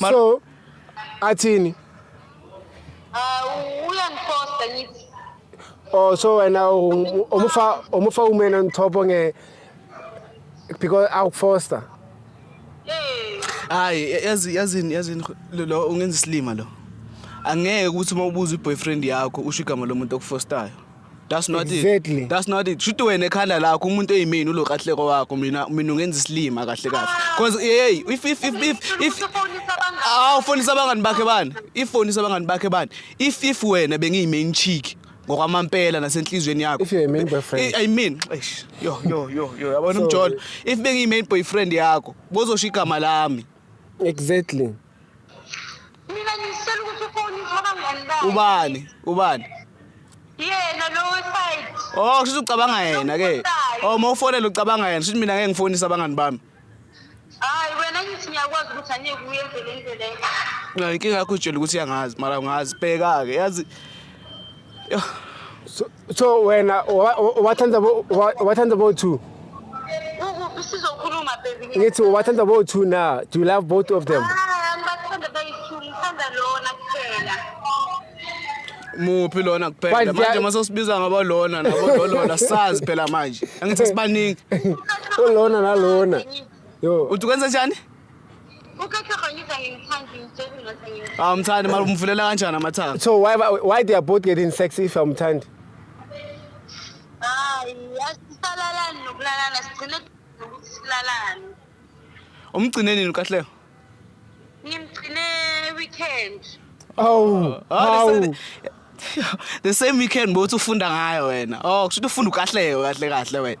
Mar so athini uh, uyangifosta ngithi oh so wena umufa umufa umena ngithopo nge because awukufosta eh. hayi yazi yazini yazini lo ungenza isilima lo angeke ukuthi uma ubuza iboyfriend yakho usho igama lomuntu okufostayo That's not Exactly. it. That's not it. Shuthi wena ekhanda lakho umuntu eyimini ulo kahleko wakho mina mina ungenza isilima kahle kahle. Cause hey if if if if if aw fonisa abangani bakhe bani? If fonisa abangani bakhe bani? If if wena bengiyi main chick ngokwamampela nasenhlizweni yakho. If you're a main boyfriend. I mean, eish, yo yo yo yo yabona So- umjolo. If bengiyi main boyfriend yakho, bozosho igama lami. Exactly. mina ngicela ukuthi ufonise abangani bakhe ubani ubani yena lo weside oh kushuthi ucabanga yena ke oh uma ufonela ucabanga yena shuthi mina ngeke ngifonise abangani bami hayi wena ngithi ngiyakwazi ukuthi angeke uyenze le nto leyo mina inkinga yakho utshela ukuthi uyangazi mara ungazi bheka-ke yazi Yoh. so wena wathanda wathanda bo two sizokhuluma baby ngithi wathanda bo two na do you love both of them ah, ngibathanda bayi-two ngithanda lona kuphela muphi lona kuphela manje uma sosibiza ngabo lona nabo lolona sazi phela manje angithi sibaningi ulona nalona yo uthi kwenza njani awumthandi mali umvulela kanjani amathanga So why why they are both getting sex if awumthandi? sisalalani nokulalana sigcine nokuthi silalane umgcine nini ukahleko ngimgcine weekend Oh, Ah, the, same, the same weekend bothi ufunda ngayo wena oh kusho ukuthi ufunda ukahleko kahle kahle wena